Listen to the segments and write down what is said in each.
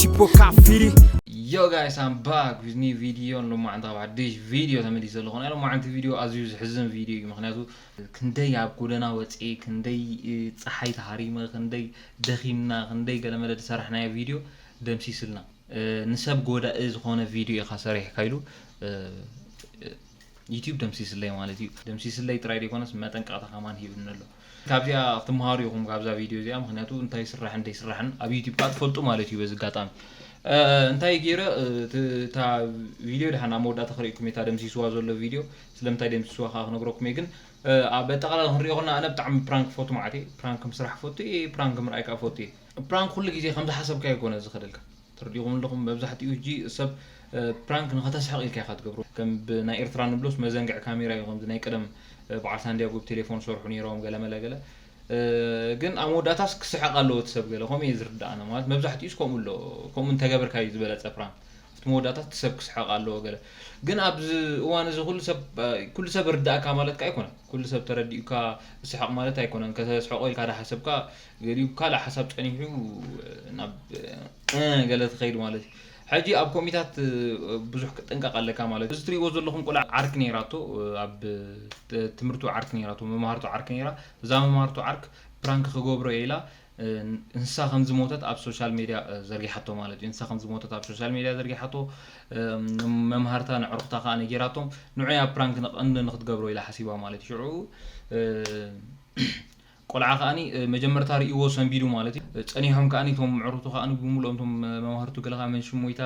Tipo Cafiri. Yo guys, I'm back with new video ን ሎማዕንቲ ካብ ሓድሽ ቪድዮ ተመሊሰ ኣለኹ ናይ ሎማዕንቲ ቪድዮ ኣዝዩ ዝሕዝን ቪድዮ እዩ ምክንያቱ ክንደይ ኣብ ጎደና ወፅኤ ክንደይ ፀሓይ ተሃሪመ ክንደይ ደኺምና ክንደይ ገለመለ ዝሰራሕናዮ ቪድዮ ደምሲስልና ንሰብ ጎዳኢ ዝኾነ ቪድዮ ኢኻ ሰሪሕካ ኢሉ ዩቱብ ደምሲስለይ ማለት እዩ ደምሲስለይ ጥራይ ዘይኮነስ መጠንቀቕታ ከማን ሂብኒ ኣሎ ካብዚኣ ክትምሃሩ ኢኹም ካብዛ ቪድዮ እዚኣ ምክንያቱ እንታይ ስራሕን ዘይስራሕን ኣብ ዩቱብ ከዓ ትፈልጡ ማለት እዩ በዚ ኣጋጣሚ እንታይ ገይረ እታ ቪድዮ ድሓን ኣብ መወዳእታ ክርእኩም እየ እታ ደምሲስዋ ዘሎ ቪድዮ ስለምንታይ ደምሲስዋ ከዓ ክነግረኩም እየ ግን ኣብ ኣጠቃላላ ክንሪኦ ከለና ኣነ ብጣዕሚ ፕራንክ ፈቱ ማለት እየ ፕራንክ ምስራሕ ፈቱ እየ ፕራንክ ምርኣይ ከዓ ፈቱ እየ ፕራንክ ኩሉ ግዜ ከምዝሓሰብካ ይኮነ ዝኸደልካ ትርዲእኩም ኣለኹም መብዛሕቲኡ ህጂ ሰብ ፕራንክ ንኸተስሕቕ ኢልካ ኢኻ ትገብሮ ከም ብ ናይ ኤርትራ ንብሎስ መዘንግዒ ካሜራ እዩ ከምዚ ናይ ቀደም በዓል ሳንድያጎ ብ ቴሌፎን ዝሰርሑ ኔሮም ገለ መለ ገለ ግን ኣብ መወዳእታስ ክስሕቕ ኣለዎ እቲ ሰብ ገለ ከምኡ እየ ዝርዳእ ኣነ ማለት መብዛሕቲኡስ ከምኡ ኣሎ ከምኡ እንተገበርካ እዩ ዝበለጸ ፕራንክ ኣብቲ መወዳእታ እቲ ሰብ ክስሕቕ ኣለዎ ገለ ግን ኣብዚ እዋን እዚ ኩሉ ሰብ ኩሉ ሰብ ርዳእካ ማለት ከ ኣይኮነን ኩሉ ሰብ ተረዲኡካ ስሕቕ ማለት ኣይኮነን ከተስሕቆ ኢልካ ዳሓሰብካ ገሊኡ ካልእ ሓሳብ ጸኒሑ ናብ እ ገለ ትኸይድ ማለት እዩ። ሕጂ ኣብ ኮሚታት ብዙሕ ክትጥንቀቕ ኣለካ ማለት እዩ። እዚ ትርእይዎ ዘለኹም ቆልዓ ዓርኪ ነይራቶ ኣብ ትምህርቱ ዓርኪ ነይራቶ መማህርቱ ዓርኪ ነይራ እዛ መማህርቱ ዓርክ ፕራንክ ክገብሮ እየ ኢላ ንሳ ከም ዝሞተት ኣብ ሶሻል ሜድያ ዘርጊሓቶ ማለት እዩ። ንሳ ከም ዝሞተት ኣብ ሶሻል ሜድያ ዘርጊሓቶ መማህርታ ንዕሩኽታ ከኣ ነጊራቶም ንዑያ ፕራንክ ንክትገብሮ ኢላ ሓሲባ ማለት እዩ። ሽዑ ቆልዓ ከኣ መጀመርታ ርእይዎ ሰንቢዱ ማለት እዩ ጸኒሖም ከኣ እቶም ምዕሩቱ ከኣ ብምልኦም እቶም መማህርቱ ገለ ከኣ መን ሽም ሞይታ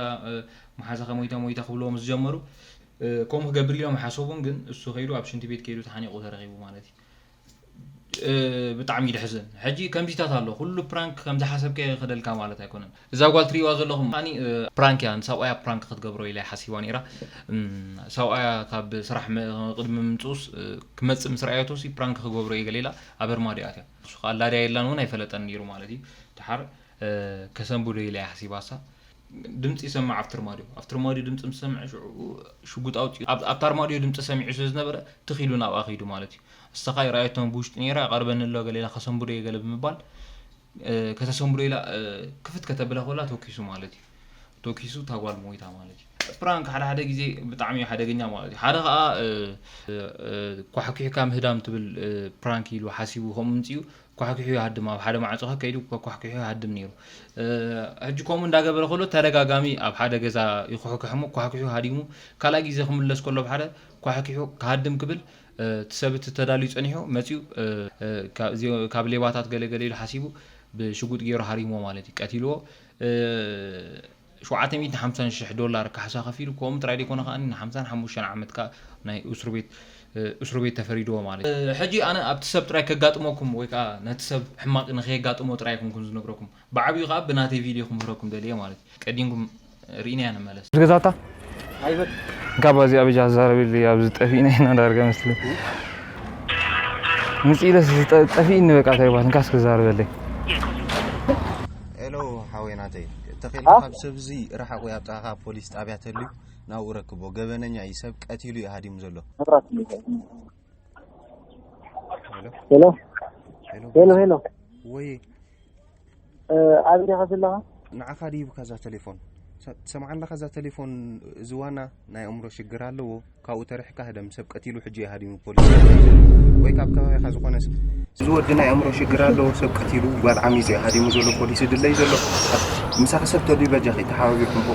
መሓዛኻ ሞይታ ሞይታ ክብልዎ ምስ ጀመሩ ከምኡ ክገብር ኢሎም ሓሰቡን ግን እሱ ከይዱ ኣብ ሽንቲ ቤት ከይዱ ተሓኒቁ ተረኺቡ ማለት እዩ ብጣዕሚ ደሕዝን ሕጂ ከምዚታት ኣሎ ኩሉ ፕራንክ ከምዝሓሰብካዮ ይኸደልካ ማለት ኣይኮነን እዛ ጓል ትሪእዋ ዘለኹም ከኣኒ ፕራንክ እያ ንሰብኣያ ፕራንክ ክትገብሮ ኢላ እያ ሓሲባ ነይራ ሰብኣያ ካብ ስራሕ ቅድሚ ምምጽኡስ ክመጽእ ምስ ረኣየቶሲ ፕራንክ ክገብሮ እየ ገለ ኢላ ኣብ ኣርማድዮ ኣትያ ንሱ ከኣ ኣላ ድያ የላን እውን ኣይፈለጠን ነይሩ ማለት እዩ ድሓር ከሰንብዶ ኢላ እያ ሓሲባሳ ድምፂ ይሰማዕ ኣብቲ ኣርማድዮ ኣብቲ ኣርማድዮ ድምፂ ምስ ሰምዐ ሽዑ ሽጉጥ ኣውፂኡ ኣብ- ኣብቲ ኣርማድዮ ድምፂ ሰሚዑ ስለ ዝነበረ ትኽ ኢሉ ናብኣ ከይዱ ማለት እዩ ንሳ ከኣ ይረኣየቶም ብውሽጢ ነይራ ይቐርበኒ ኣሎ ገለ ኢላ ከሰንብዶ እየ ገለ ብምባል ከተሰንብዶ ኢላ ክፍት ከተብላ ኮላ ቶኪሱ ማለት እዩ ቶኪሱ እታ ጓል ሞይታ ማለት እዩ ፕራንክ ሓደ ሓደ ግዜ ብጣዕሚ እዩ ሓደገኛ ማለት እዩ ሓደ ከዓ ኳሕኪሕካ ምህዳም ትብል ፕራንክ ኢሉ ሓሲቡ ከምኡ ምንፅኡ ኳሕኪሑ ይሃድም ኣብ ሓደ ማዕፆ ከይዱ ኳሕኪሑ ይሃድም ነይሩ ሕጂ ከምኡ እንዳገበረ ከሎ ተደጋጋሚ ኣብ ሓደ ገዛ ይኩሕክሕ እሞ ኳሕኪሑ ሃዲሙ ካልኣይ ግዜ ክምለስ ከሎ ኣብ ሓደ ኳሕኪሑ ክሃድም ክብል እቲ ሰብ እቲ ተዳልዩ ጸኒሑ መጺኡ ካብ ሌባታት ገለ ገለ ኢሉ ሓሲቡ ብሽጉጥ ጌሩ ሃሪምዎ ማለት እዩ ቀቲልዎ ሸውዓተ ሚእትን ሓምሳን ሽሕ ዶላር ካሕሳ ከፊሉ ከምኡ ጥራይ ደይኮነ ከኣ ን ሓምሳን ሓሙሽተን ዓመት ከኣ ናይ እሱርቤት እሱርቤት ተፈሪድዎ ማለት እዩ። ሕጂ ኣነ ኣብቲ ሰብ ጥራይ ከጋጥመኩም ወይ ከኣ ነቲ ሰብ ሕማቅ ንከየጋጥሞ ጥራይ ኣይኮንኩን ዝነግረኩም ብዓቢኡ ከኣ ብናተይ ቪድዮ ክምህረኩም ደልየ ማለት እዩ ቀዲምኩም ሪኢናያ ንመለስ። ገዛታ ጋባ እዚኣ ብጃ ኣዛረብልይ ኣብዚ ጠፊእና ኢና ዳርጋ መስለ ምፅ ኢለስ ጠፊእኒ በቃ እንታይ ይባል እንካስ ክዛረበለይ ሄሎ ሓወይ ናተይ ተኺእልካ ካብ ሰብዚ ርሓቑ ኣብ ጥቓኻ ፖሊስ ጣብያ ተልዩ ናብኡ ረክቦ ገበነኛ እዩ ሰብ ቀቲሉ እዩ ሃዲሙ ዘሎ ሄሎ ሄሎ ሄሎ ወይ ኣብዲኻ ዘለኻ ንዓኻ ድዩ ከዛ ቴሌፎን ትሰምዓ ኣለኻ እዛ ቴሌፎን እዚ ዋና ናይ ኣእምሮ ሽግር ኣለዎ ካብኡ ተርሕካ ህደም ሰብ ቀቲሉ ሕጂ ይሃዲሙ ፖሊስ ወይ ካብ ከባቢኻ ዝኾነ እዚ ወዲ ናይ ኣእምሮ ሽግር ኣለዎ ሰብ ቀቲሉ ጓል ዓሚፅ ሃዲሙ ዘሎ ፖሊስ ድለይ ዘሎ ምሳኺ ሰብ ተድዩ በጃኺ ተሓባቢርኩም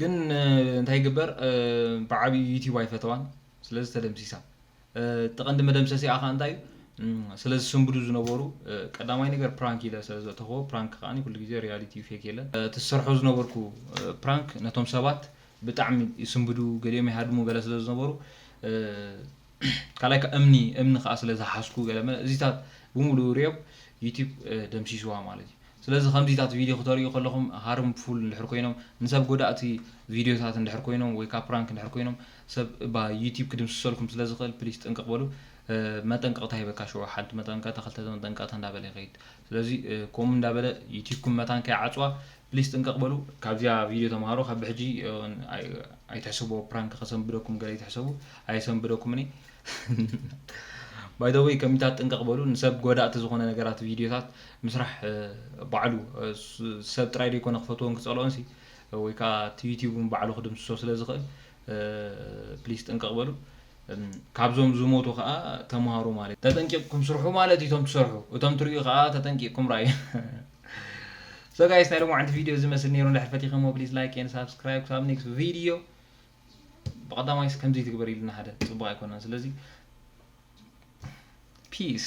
ግን እንታይ ይግበር ብዓብዩ ዩቲብ ኣይፈተዋን ስለዚ ተደምሲሳ ተቐንዲ መደምሰሲኣ ከ እንታይ ስለ ዝስንብዱ ዝነበሩ ቀዳማይ ነገር ፕራንክ ኢለ ስለ ዘእተኽዎ ፕራንክ ከዓኒ ኩሉ ግዜ ሪያሊቲ ዩ ፌክ የለን እቲ ዝሰርሖ ዝነበርኩ ፕራንክ ነቶም ሰባት ብጣዕሚ ይስንብዱ ገሊኦም ይሃድሙ ገለ ስለ ዝነበሩ ካልኣይ ከኣ እምኒ እምኒ ከኣ ስለ ዝሓዝኩ ገለ መለ እዚታት ብምሉኡ ሪኦም ዩቱብ ደምሲስዋ ማለት እዩ። ስለዚ ከምዚታት ቪድዮ ክተርእዩ ከለኹም ሃርምፉል እንድሕር ኮይኖም ንሰብ ጎዳእቲ ቪድዮታት እንድሕር ኮይኖም ወይ ከኣ ፕራንክ እንድሕር ኮይኖም ሰብ እባ ዩቱብ ክድምስሰልኩም ስለ ዝኽእል ፕሊስ ጥንቅቕ በሉ መጠንቀቕታ ሂበካ ሽዑ ሓንቲ መጠንቀቕታ ክልተ መጠንቀቕታ እንዳበለ ይኸይድ ስለዚ ከምኡ እንዳ በለ ዩቲብኩም መታን ከይዓጽዋ ፕሊስ ጥንቅቅ በሉ ካብዚኣ ቪድዮ ተማሃሩ ካብ ብሕጂ ኣይትሕሰብዎ ፕራንክ ከሰንብደኩም ገለ ኣይትሕሰቡ ኣየሰንብደኩምን ባይ ዘ ወይ ከሚታት ጥንቅቅ በሉ ንሰብ ጎዳእቲ ዝኾነ ነገራት ቪድዮታት ምስራሕ ባዕሉ ሰብ ጥራይ ደይኮነ ክፈትዎን ክጸልኦን ሲ ወይ ከዓ እቲ ዩቲዩብ ባዕሉ ክድምስሶ ስለ ዝኽእል ፕሊስ ጥንቅቅ በሉ ካብዞም ዝሞቱ ከኣ ተማሃሩ ማለት ተጠንቂቅኩም ስርሑ ማለት እዩ እቶም ትሰርሑ እቶም ትርእዩ ከኣ ተጠንቂቅኩም ራዩ ሶ ጋይስ ናይ ሎማዓንቲ ቪድዮ እዚ መስል ነይሩ እንድሕር ፈቲኸሞ ፕሊስ ላይክ ኤንድ ሳብስክራይብ ክሳብ ኔክስት ቪድዮ ብቀዳማይስ ከምዚ ትግበር ኢልና ሓደ ጽቡቅ ኣይኮነን ስለዚ ፒስ